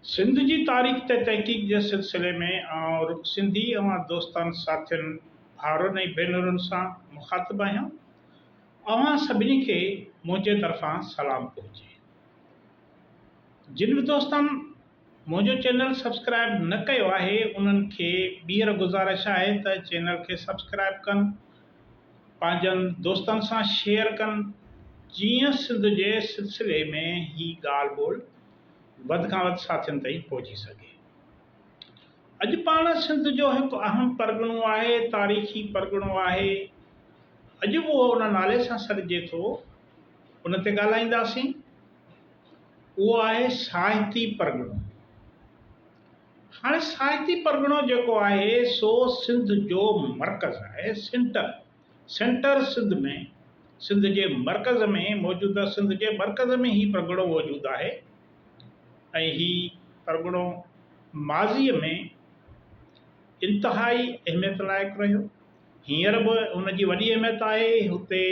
سنڌ جي تاريخ تي تحقيق جي سلسلي ۾ آئون سنڌي اوهان دوستن، ساٿين، ڀائرن ۽ ڀينرن سان مخاطب آهيان. اوهان سڀني کي منهنجي طرفان سلام پهچي. جن به دوستن منهنجو چينل سبسڪرائب نه ڪيو آهي انهن کي ٻيهر گذارش آهي ته چينل کي سبسڪرائب ڪن پنهنجن دوستن سان شيئر ڪن جيئن سنڌ جي سلسلي ۾ هي ڳالهه ٻولهه وڌ کان وڌ ساٿين تائين پهچي سگهي. اڄ پاڻ سنڌ جو هڪ اهم پرڳڻو آهي، تاريخي پرڳڻو آهي، اڄ به اهو ان نالي سان سڏجي ٿو، ان تي ڳالهائينداسين، اهو آهي ساهتي پرڳڻو. هاڻي سائتي پرڳڻو جيڪو آهي سو سنڌ جو مرڪز آهي، سينٽر، Centre، سنڌ ۾، سنڌ جي مرڪز ۾ موجود آهي، سنڌ جي مرڪز ۾ هي پرڳڻو موجود آهي ۽ هي پرڳڻو ماضيء ۾ انتهائي اهميت لائق رهيو، هينئر به ان جي وڏي اهميت آهي، هتي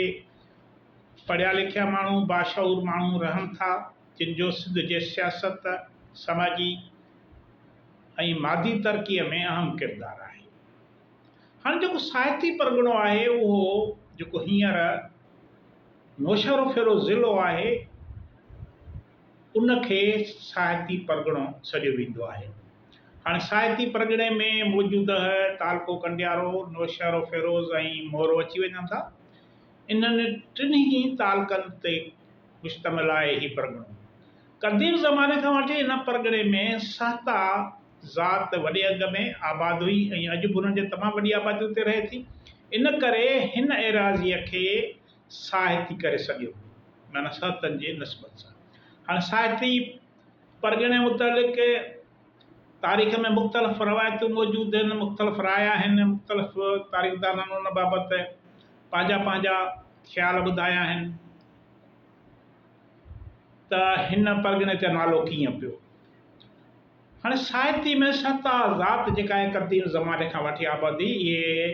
پڙهيا لکيا ماڻهو، باشعور ماڻهو رهن ٿا. جن جو سنڌ جي سياست، سماجي ۽ مادي ترقيء ۾ اهم ڪردار آهي. هاڻ جيڪو ساهتي پرڳڻو آهي اهو جيڪو هينئر نوشهروفيروز ضلعو آهي ان کي ساهتي پرڳڻو سڏيو ويندو آهي. هاڻ ساهتي پرڳڻي ۾ موجوده تعلقو ڪنڊيارو، نوشهروفيروز ۽ مورو اچي وڃن ٿا. انهن ٽنهي تعلقن تي. مشتمل آهي هي پرڳڻو. قديم زماني کان وٺي هن پرڳڻي ۾ سهتا ذات وڏي انگ ۾ آباد هئي ۽ اڄ به انهن جي تمام وڏي آبادي اتي رهي ٿي. ان ڪري هن ايراضيء کي سهتي ڪري سڏيو ويو معنيٰ سهتن جي نسبت سان. هاڻي سهتي پرڳڻي متعلق تاريخ ۾ مختلف روايتون موجود آهن، مختلف راء آهن، مختلف تاريخدانن ان بابت پنهنجا پنهنجا خيال ٻڌايا آهن. ته هن پرڳڻي تي نالو ڪيئن پيو. هاڻي ساهتي ۾ سهتا ذات جيڪا آهي قديم زماني کان وٺي آبادي اهي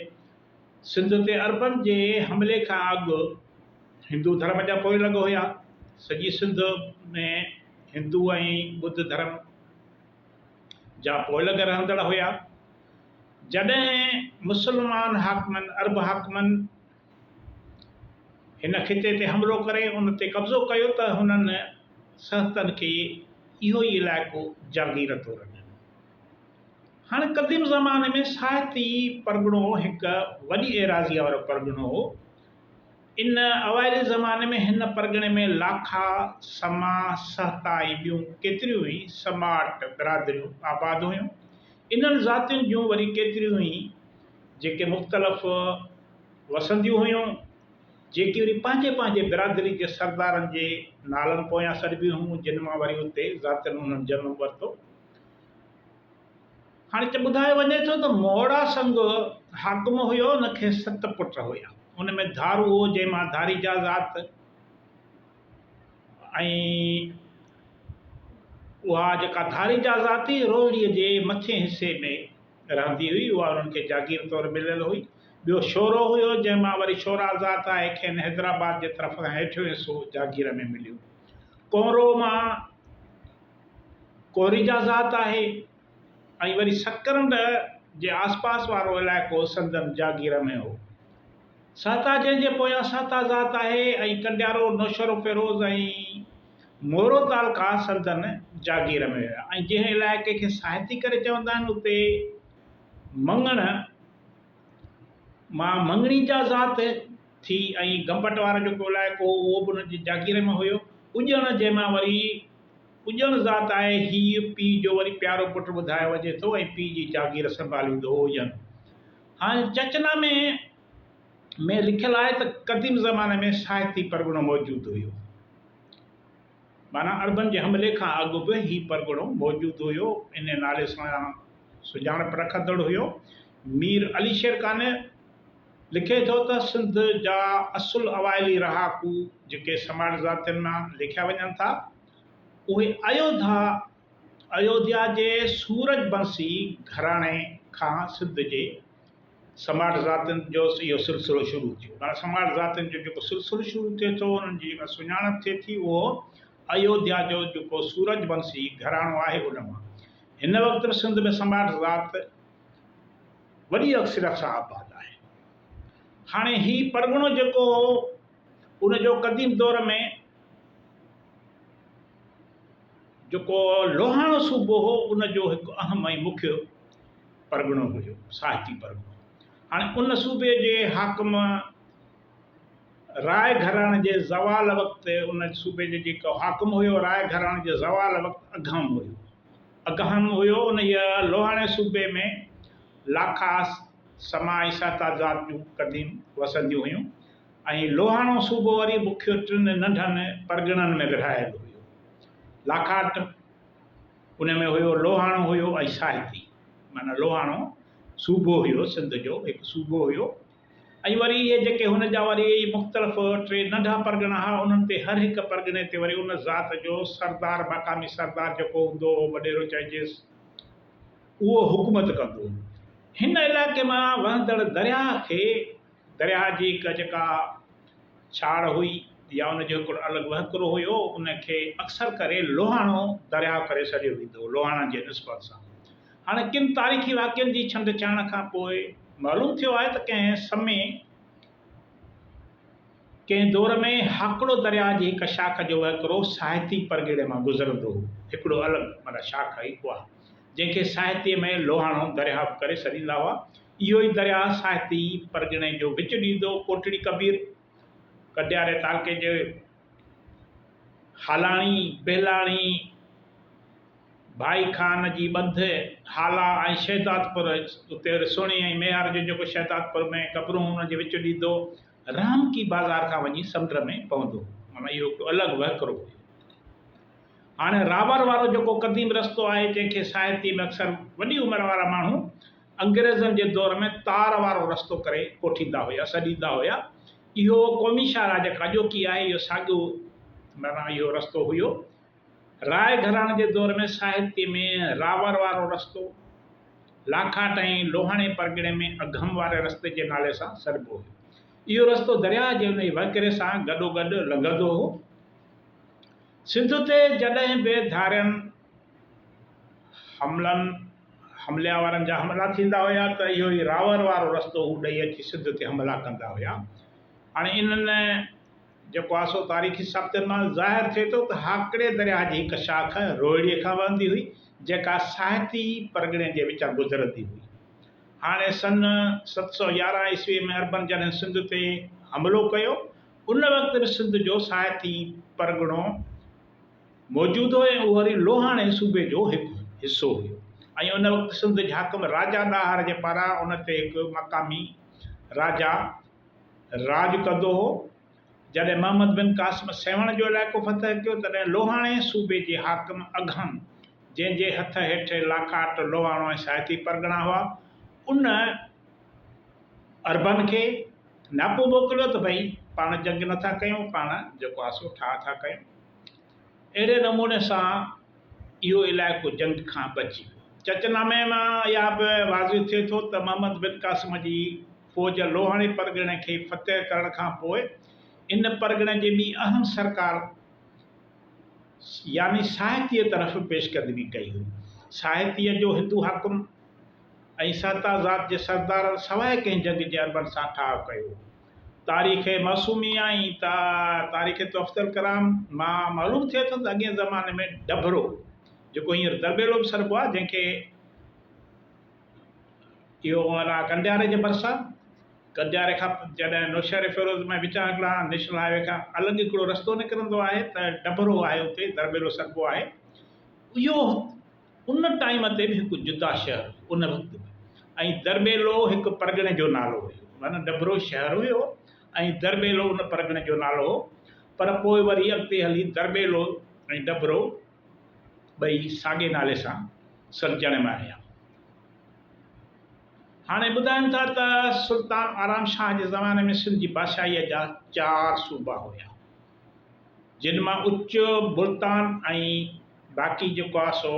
سنڌ تي عربن جي حملي کان اڳ هندو ڌرم جا پوئين لڳ هيا. سڄي سنڌ ۾ هندو ۽ ٻڌ ڌرم جا پوئين لڳ رهندڙ هيا. جڏهن مسلمان حاڪمن، عرب حاڪمن، هن خطي تي حملو ڪري ان تي قبضو ڪيو ته هنن سهتن کي اهو ئي علائقو جاگير طور ڏنو. هاڻ قديم زماني ۾ ساهتي پرڳڻو هڪ وڏي ايراضيء وارو پرڳڻو هو. ان اوائلي زماني ۾ هن پرڳڻي ۾ لاکا، سما، سهتا ۽ ٻيون ڪيتريون ئي سماٽ برادريون آباد هيون. انهن ذاتين جون وري ڪيتريون ئي جيڪي مختلف وسنديون هيون، جيڪي وري پنهنجي پنهنجي برادري جي سردارن جي نالن پويان سڏبيون هيون، جن مان وري اتي ذاتين انهن جنم ورتو. هاڻي هتي ٻڌايو وڃي ٿو ته مهڙا سنگ حاڪم هيو، ان کي ست پٽ هيا، ان ۾ ڌارو هو، جنهن مان ڌاري جا ذات ۽ اها جيڪا ڌاري جا ذات هئي، روهڙيء جي مٿئين حصي ۾، رهندي هئي، اها انهن کي جاگير طور مليل هئي. ٻيو شورو هيو، جنهن مان وري شورا ذات آهي، کين حيدرآباد جي طرف کان هيٺيون حصو جاگير ۾ مليو. ڪونرو مان ڪوريجا ذات آهي ۽ وري سڪرنڊ جي آسپاس وارو علائقو سندن جاگير ۾ هو. سهتا جنهن جي پويان سهتا ذات آهي ۽ ڪنڊيارو نوشهروفيروز ۽ مورو تعلقا سندن جاگير ۾ هيا ۽ جنهن علائقي کي ساهتي ڪري چوندا آهن اتي مڱڻ مان مڱڻي جا ذات ٿي ۽ گمبٽ وارو جيڪو علائقو هو اهو به انهن جي جاگير ۾ هيو. اڄڻ جنهن مان وري اڄڻ ذات آهي هيء پيء جو وري پيارو پٽ ٻڌايو وڃي ٿو ۽ پيء جي جاگير سنڀاليندو هو اڄڻ هاڻي چچنا ۾ ۾ لکيل آهي ته قديم زماني ۾ ساهتي پرڳڻو موجود هيو. معنيٰ عربن جي حملي کان اڳ به هي پرڳڻو موجود هيو، انهيء نالي سان سڃاڻپ رکندڙ هيو. مير علي شير قانع لکي ٿو ته سنڌ جا اصل اوائلي رهاڪو جيڪي سماٽ ذاتين مان ليکيا وڃن ٿا، اهي ايوڌا، Ayodhya، جي سورج بنسي گهراڻي کان سنڌ جي سماٽ ذاتين جو اهو سلسلو شروع ٿيو. هاڻ سماٽ ذاتين جو جيڪو سلسلو شروع ٿئي ٿو، انهن جي جيڪا سڃاڻپ ٿئي ٿي، اهو ايوڌيا جو جيڪو سورج ونسي گهراڻو آهي، ان مان. هن وقت به سنڌ ۾ سماٽ ذات وڏي اڪثريت سان آباد آهي. هاڻي هي پرڳڻو جيڪو هو، ان جو قديم دور ۾. جيڪو لوهاڻو صوبو هو ان جو هڪ اهم ۽ مکيه پرڳڻو هيو، ساهتي پرڳڻو. هاڻي ان صوبي جي حاڪم راء گهراڻي جي زوال وقت ان صوبي جو جيڪو حاڪم هيو راء گهراڻي جي زوال وقت اگهم هيو. اگهم هيو انهيء لوهاڻي صوبي ۾ لاکاس، سما ۽ سهتا ذات جون قديم وسنديون هيون. ۽ لوهاڻو صوبو وري بکيو ٽن ننڍن پرڳڻن ۾ ورهايل هيو. لاکاٽ ان ۾ هيو، لوهاڻو هيو ۽ ساهتي معنيٰ لوهاڻو صوبو هيو، سنڌ جو هڪ صوبو هيو ۽ وري اهي جيڪي هن جا وري مختلف ٽي ننڍا پرڳڻا هئا، انهن تي هر هڪ پرڳڻي تي وري ان ذات جو سردار، مقامي سردار جيڪو هوندو هو، وڏيرو چئجيس، اهو حڪومت ڪندو هو. هن علائقي مان وهندڙ درياهه کي درياهه جي هڪ جيڪا ڇاڙ هئي يا ان جو هڪڙو الڳ وهڪرو هيو ان کي اڪثر ڪري لوهاڻو درياهه ڪري سڏيو ويندو هو لوهاڻن جي نسبت سان. هاڻي ڪن تاريخي واقعن جي ڇنڊ ڇاڻ کان پوء معلوم ٿيو آهي ته ڪنهن سمي ڪنهن دور ۾ هاڪڙو درياهه جي هڪ شاخ جو وهڪرو ساهتي پرڳڻي مان گذرندو هو هڪڙو الڳ معنيٰ شاخ هئي اها جنهن کي ساهتي ۾ لوهاڻو درياهه به ڪري سڏيندا هئا. اهو ئي درياء ساهتي پرڳڻي جو وچ ڏيندو ڪوٽڙي ڪبير ڪٽياري تعلقي جي هالاڻي، بهلاڻي، ڀائي خان جي ٻنڌ، هالا ۽ شهدادپور اتي رسوڻي ۽ ميهار جو جيڪو شهدادپور ۾ قبرون ان جي وچ ڏيندو رحمڪي بازار کان وڃي سمنڊ ۾ پوندو معنيٰ اهو هڪڙو الڳ وهڪرو هيو. هاڻي رابر وارو جيڪو قديم رستو آهي جنهن کي ساهتي ۾ اڪثر وڏي عمر وارا ماڻهو انگريزن جي دور ۾ تار وارو رستو ڪري ڪوٺيندا هيا، سڏيندا هيا. اهو قومي شاهراهه جيڪا اڄوڪي آهي، اهو ساڳيو معنيٰ اهو رستو هيو. راء گهراڻي جي دور ۾ ساهتيه ۾ راور وارو رستو، لاکاٽ ۽ لوهاڻي پرڳڻي ۾ اگهم واري رستي جي نالي سان سڏبو هيو. اهو رستو درياهه جي انهيء وهڪري سان گڏوگڏ لنگهندو هو. سنڌ تي جڏهن به ڌارين حملن، حمليا وارن جا حملا ٿيندا هيا ته اهو ئي راور وارو رستو هو ڏئي اچي سنڌ تي حملا ڪندا هيا. هاڻي انهن جيڪو آهي سو تاريخي ثابتين مان ظاهر ٿئي ٿو ته هاڪڙي درياهه جي هڪ شاخ روهڙي کان وهندي هئي جيڪا ساهتي پرڳڻي جي وچان گذرندي هئي. هاڻي سن ست سؤ يارهن عيسوي ۾ عربن جڏهن سنڌ تي حملو ڪيو ان وقت به سنڌ جو ساهتي پرڳڻو موجودو ۽ اوري لوهاڻي صوبي جو هڪ حصو هيو ۽ ان وقت سنڌ جي حاڪم راجا ڏاهر جي پاران ان تي هڪ مقامي راجا راڄ ڪندو هو. جڏهن محمد بن قاسم سيوهڻ جو علائقو فتح ڪيو تڏهن لوهاڻي صوبي جي حاڪم اگهم جنهن جي هٿ هيٺ لاکاٽ، لوهاڻو ۽ ساهتي پرڳڻا هئا، ان عربن کي، ناپو موڪليو ته ڀئي پاڻ جنگ نٿا ڪيون پاڻ جيڪو آهي سو ٺاهه ٿا ڪيون. اهڙي نموني سان اهو علائقو جنگ کان بچي ويو. چچ نامي مان اها به واضح ٿئي ٿو ته محمد بن قاسم جي فوج لوهاڻي پرڳڻي کي فتح ڪرڻ کان پوء ان پرڳڻي جي ٻي اهم سرڪار يعني ساهتيء طرف پيشقدمي ڪئي هئي. ساهتيء جو هندو حاڪم. ۽ ساتا ذات جي سردارن سواء ڪنهن جڳ جي عربن سان ٺاهه ڪيو. تاريخ معصومي ۽ تاريخ تحفة الڪرام مان معلوم ٿئي ٿو ته اڳئين زماني ۾ ڊڀرو، جيڪو هينئر درٻيلو به سڏبو آهي، جنهن کي اهو هو انا ڪنڊياري جي ڀرسان، ڪنڊياري کان جڏهن نوشهري فيروز ۾ وچان هڪڙا نيشنل هاء وي کان الڳ هڪڙو رستو نڪرندو آهي ته ڊڀرو آهي اتي درٻيلو سڏبو آهي. اهو ان ٽائيم تي به هڪ جدا شهر هو، ان وقت به، ۽ درٻيلو هڪ پرڳڻي جو نالو هيو، معنيٰ ڊڀرو شهر هيو ۽ درٻيلو ان پرڳڻي جو نالو هو، پر پوء وري اڳتي هلي درٻيلو ۽ ڊڀرو ٻئي ساڳئي نالي سان سڏجڻ ۾ آيا. هاڻي ٻڌائن ٿا ته سلطان آرام شاهه جي زماني ۾ سنڌ جي بادشاهيء جا چار صوبا هيا. جن مان اچ، ملتان ۽ باقي جيڪو آ سو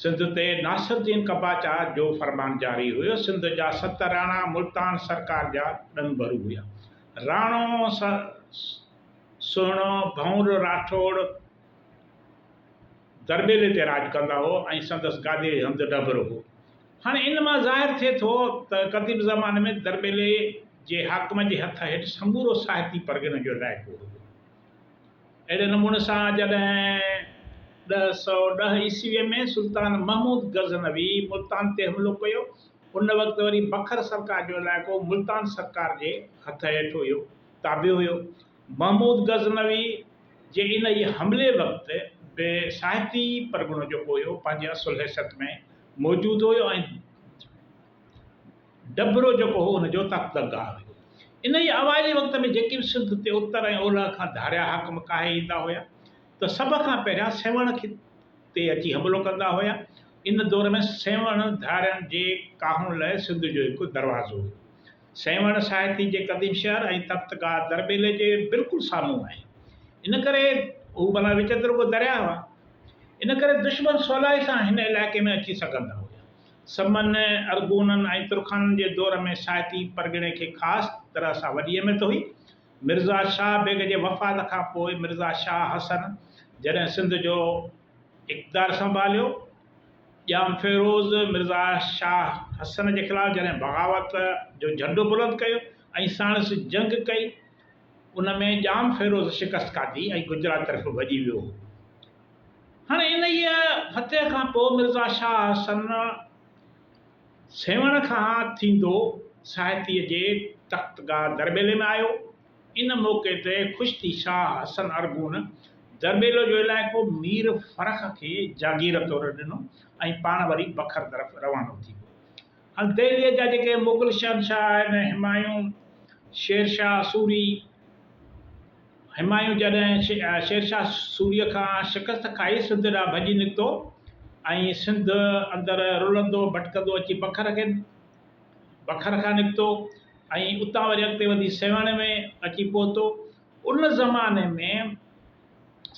سنڌ تي ناصر الدين قباچا جو فرمان جاري هيو. سنڌ جا ست راڻا ملتان سرڪار جا ڏنڀرو هيا. راڻو سهڻو ڀنور راٺوڙ درٻيلي تي راڄ ڪندا هو ۽ سندس گاديء هنڌ ڏنڀرو هو. هاڻي ان مان ظاهر ٿئي ٿو ته قديم زماني ۾ درٻيلي جي حاڪم جي هٿ هيٺ سمورو ساهتي پرڳڻي جو علائقو هيو. اهڙي نموني سان جڏهن ڏهه سؤ ڏهه عيسويء ۾ سلطان محمود غزنوي ملتان تي حملو ڪيو، ان وقت وري بکر سرڪار جو علائقو ملتان سرڪار جي هٿ هيٺ هيو، تابع هيو. محمود غزنوي جي انهيء حملي وقت به ساهتي پرڳڻو جيڪو هيو، پنهنجي اصل حيثيت ۾ موجود هو ۽ ڊڀرو جيڪو هو ان جو تخت درگاهه هئي. انهيء اوائلي وقت ۾ جيڪي به سنڌ تي اتر ۽ اولهه کان ڌاريا حاڪم ڪاهي ايندا هيا ته سڀ کان پهريان سيوهڻ کي تي اچي حملو ڪندا هيا. ان دور ۾ سيوهڻ ڌارين جي ڪاهڻ لاء سنڌ جو هڪ دروازو هيو. سيوهڻ ساهتي جي قديم شهر ۽ تخت گاهه درٻيلي جي بلڪل سامهون آهي. ان ڪري هو ڀلا وچ ته رڳو درياهه هئا. ان ڪري دشمن سولائي سان هن علائقي ۾ اچي سگهندا هيا. سمن، ارغونن ۽ ترخانن جي دور ۾ سائتي پرڳڻي کي خاص طرح سان وڏي اهميت هئي. مرزا شاهه بيگ جي وفات کان پوء مرزا شاهه حسن جڏهن سنڌ جو اقتدار سنڀاليو، ڄام فيروز مرزا شاهه حسن جي خلاف جڏهن بغاوت جو جهنڊو بلند ڪيو ۽ ساڻس جنگ ڪئي، ان ۾ ڄام فيروز شڪست کاڌي ۽ گجرات طرف ڀڄي ويو هو. هاڻ انهيء فتح کان پوء مرزا شاهه حسن سيوهڻ کان ٿيندو ساهتيء جي تختگاهه درٻيلي ۾ آيو. ان موقعي تي خوش ٿي شاهه حسن ارغون درٻيلو جو علائقو مير فرخ کي جاگير طور ڏنو ۽ پاڻ وري بکر طرف روانو ٿي ويو. هن دهليء جا جيڪي مغل شهنشاهه آهن، همايون، شير شاهه سوري، همايون جڏهن شير شاهه سوريء کان شڪست کائي سنڌ ڏانهن ڀڄي نڪتو ۽ سنڌ اندر رلندو ڀٽڪندو اچي بکر کي بکر کان نڪتو ۽ اتان وري اڳتي وڌي سيوهڻ ۾ اچي پهتو. ان زماني ۾.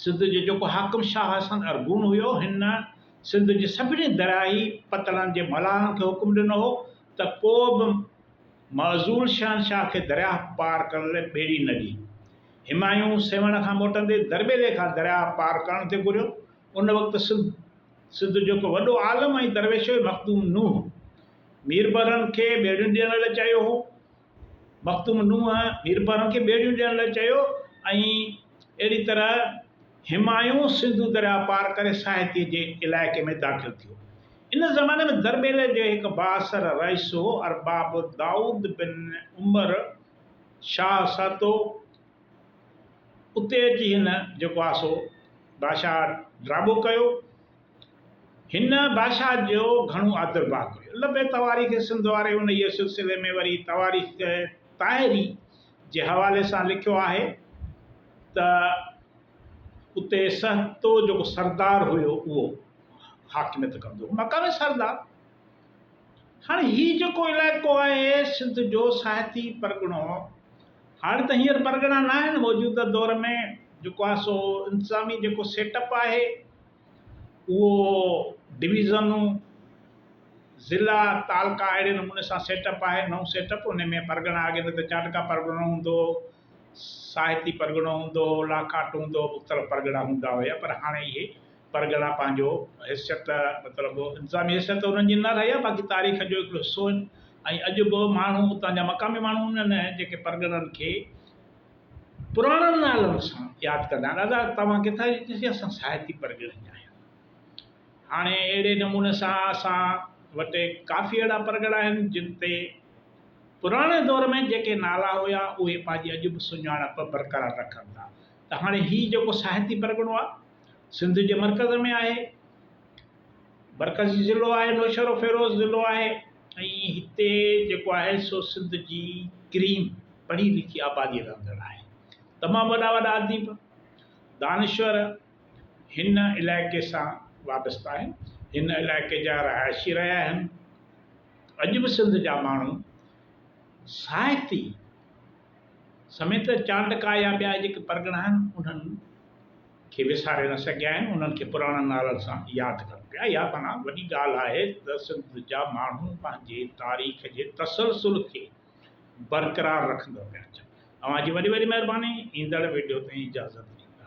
سنڌ جو جيڪو حاڪم شاهه حسن ارغون هيو، هن سنڌ جي سڀني درياهي پتڻن جي ملاحن کي حڪم ڏنو هو ته ڪو به معزول شهنشاهه کي درياهه پار ڪرڻ لاء ٻيڙي نه ڏي. همايون سيوهڻ کان موٽندي درٻيلي کان درياهه پار ڪرڻ تي گهريو. ان وقت سنڌ جو هڪ وڏو عالم ۽ درويش هيو مخدوم نوح. ميربحرن کي ٻيڙيون ڏيڻ لاء چيو هو. مخدوم نوح هيرپارن کي ٻيڙيون ڏيڻ لاء چيو ۽ اهڙي طرح همايون سنڌو درياء پار ڪري ساهتي جي علائقي ۾ داخل ٿيو. ان زماني ۾ درٻيلي جو هڪ بااثر رئيس هو ارباب دائود بن عمر شاهه سهتو. اتي اچي هن جيڪو آسو بادشاهه ڊاٻو ڪيو. هن بادشاهه جو گهڻو آدر ڀاء ڪيو. لبي تواريخ سنڌ واري انهيء سلسلي ۾ وري تواريخ طاهري جي حوالي سان لکيو آهي ته اتي سهتو جيڪو سردار هيو اهو حاڪميت ڪندو هو. مقامي سردار هاڻي هي جيڪو علائقو آهي سنڌ جو سهتي پرڳڻو هاڻي ته هينئر پرڳڻا ناهن موجوده دور ۾ جيڪو آهي سو انتظامي جيڪو سيٽ اپ آهي اهو ڊويزنون، ضلعا، تعلقا اهڙي نموني سان سيٽ اپ آهي، نئون سيٽ اپ، ان ۾ پرڳڻا اڳي نه ته چاٽڪا پرڳڻو هوندو هو، ساهتي پرڳڻو هوندو هو، لاکاٽ هوندو هو، مختلف پرڳڻا هوندا هيا پر هاڻي اهي پرڳڻا پنهنجو حيثيت مطلب انتظامي حيثيت ته انهن جي نه رهي آهي باقي تاريخ جو هڪڙو حصو آهن ۽ اڄ به ماڻهو اتان جا مقامي ماڻهو انهن جيڪي پرڳڻن کي پراڻن نالن سان ياد ڪندا آهن ادا توهان ڪٿان جي چيو اسان سائتي پرڳڻي جا آهيون هاڻي اهڙي نموني سان اسان وٽ ڪافي اهڙا پرڳڻا آهن جن تي پراڻي دور ۾ جيڪي نالا هيا اهي پنهنجي اڄ به سڃاڻپ برقرار رکن ٿا ته هاڻي هي جيڪو سائتي پرڳڻو آهي سنڌ جي مرڪز ۾ آهي مرڪزي ضلعو آهي نوشهروفيروز ضلعو آهي ۽ هتي جيڪو آهي سو سنڌ جي ڪريم پڙهي لکي آبادي رهندڙ آهي تمام وڏا وڏا اديب دانشور هن علائقي سان وابسته آهن هن علائقي جا رهائشي رهيا آهن اڄ به سنڌ جا ماڻهو ساهتي سميت چانڊڪا يا ٻيا جيڪي پرڳڻا آهن انهن کي وساري نه سگهيا آهن انهن کي پراڻن نالن سان ياد ڪن پيا اها معنيٰ وڏي ڳالهه آهي ته سنڌ جا ماڻهو پنهنجي تاريخ جي تسلسل کي برقرار رکندا پيا اچن اوهان جي وڏي وڏي مهرباني ايندڙ وڊيو تائين اجازت ڏيندا.